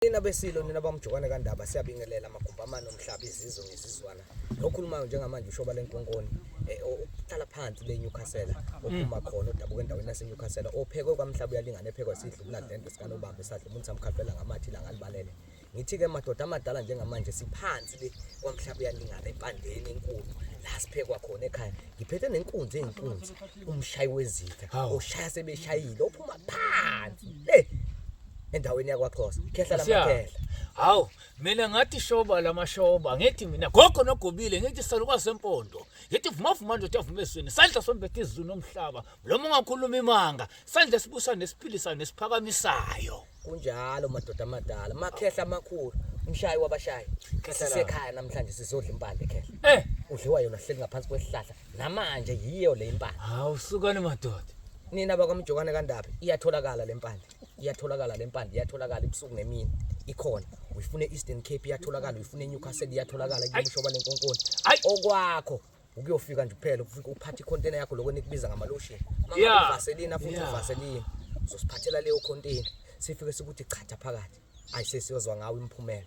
Nina besilo nina bamjokane kandaba siyabingelela amagumba amane omhlaba izizwe ngezizwana lokhulumayo njengamanje ushoba lenkonkoni eh, ohlala phansi le Newcastle ophuma mm. khona odabuka endaweni yase Newcastle ophekwe kwamhlaba uyalingana ephekwa sidla ubuladlende sikanobamba esadla umuntu samkhaphela ngamathi ilanga libalele ngithi-ke madoda amadala njengamanje siphansi le kwamhlaba uyalingana empandeni enkulu la siphekwa khona ekhaya ngiphethe nenkunzi eyinkunzi umshayi wezitha oshaya sebeshayile ophuma phansi le endaweni yakwaXhosa khehla Siya. lamakhehla hawu mina ngathi shoba lamashoba ngithi mina gogo nogobile ngithi salukazi sempondo ngithi vumavuma ndoda avuma ezweni sandla sombethe izulu nomhlaba mlomo ungakhuluma imanga sandla sibusa nesiphilisayo nesiphakamisayo kunjalo madoda amadala makhehla amakhulu umshayi wabashayi Khehla la. sisekhaya namhlanje sizodla impande khehla eh udliwa yona sihleli ngaphansi kwesihlahla namanje yiyo le impande hawu sukani madoda nina bakwamjokane kandaba iyatholakala le mpande iyatholakala le mpande iyatholakala ibusuku nemini ikhona uyifune Eastern Cape iyatholakala uyifune Newcastle iyatholakala kumshoba lenkonkoni okwakho ukuyofika nje kuphela ufike uphathe icontainer yakho lokho nikubiza ngama lotion mama uvaselina futhi uvaselina uzosiphathela leyo container sifike sikuthi chatha phakathi ayisesiyozwa ngawo imphumela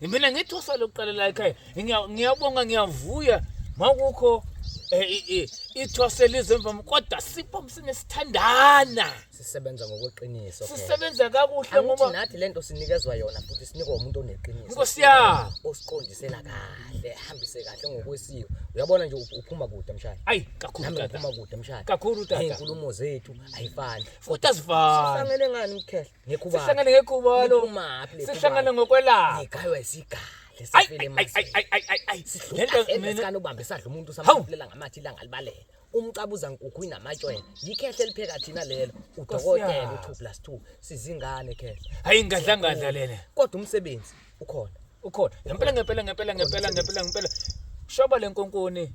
Mina ngithi usale uqala la ekhaya. Ngiya- Ngiyabonga ngiyavuya makukho eh, i- i- ithwase lizemva kodwa sipho msine sithandana. sisebenza ngokweqiniso phela. Sisebenza kakuhle Angithi ngoba nathi lento sinikezwa yona futhi sinikwa umuntu oneqiniso Nkosi yami. osiqondisela kahle hambise kahle ngokwesiko uyabona nje up- uphuma kude mshaya ayi kakhulu nami tata. ngiphuma kude mshaya Kakhulu tata. inkulumo zethu ayifani Futhi azifani. sifanele ngani mkhehla Ngekhubalo. Sihlangane ngekhubalo. Niphumaphi le Sihlangane khubalo? ngokwelapha. Ngigaywa isigahle Ay, safele ay, ay, ay, emazweni. ay, ay, ay, ay. Le nto Sidlula mina- esikani ubambe sadla umuntu Hawu. samaphulela ngamathi ilanga libalele. Umcabuza nkukhu inamatshwele. Yikhehle lipheka thina lelo. Udokotela yami. u2 plus 2 sizingane khehle. Hayi ngadlangadla lena. Kodwa umsebenzi ukhona. Ukhona. Ngempela ngempela ngempela ngempela ngempela ngempela. Shoba lenkonkoni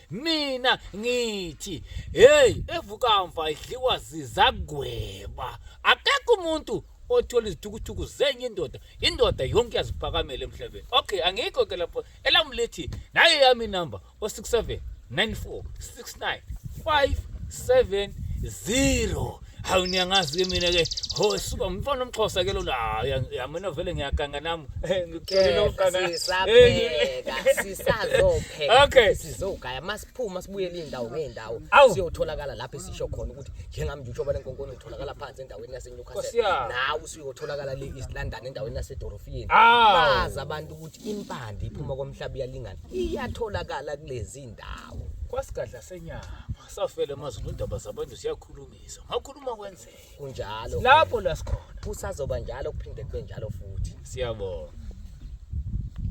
mina ngithi hey evukamva idliwa zizagweba akekho umuntu othola izithukuthuku zenye indoda indoda yonke yaziphakamela emhlabeni okay angikho ke lapho elamu lithi nayo yami inamba o-67 94 69 570 hawu niyangazi-ke mina-ke ho suka mfana omxhosa ke lona hayi ang- ya mina vele ngiyaganga nami Eh, ngikutholile Kepha ukuganga. Eh, sisapheka sisazopheka Okay. futhi sizogaya masiphuma sibuyele iy'ndawo ngey'ndawo Awu. siyotholakala lapho esisho khona ukuthi njengami nje utshoba lenkonkoni utholakala phansi endaweni Nkosi yasenewcastle yami. nawe usuyotholakala le east london endaweni yasedorofiyeni Awu. bazi abantu ukuthi impande iphuma komhlaba iyalingana iyatholakala kulezi ndawo kwasigadla senyama safela emazulu indaba zabantu siyakhula kulungiswa mawukhuluma kwenzeka kunjalo lapho la sikhona kusazoba njalo kuphinde kube njalo futhi siyabonga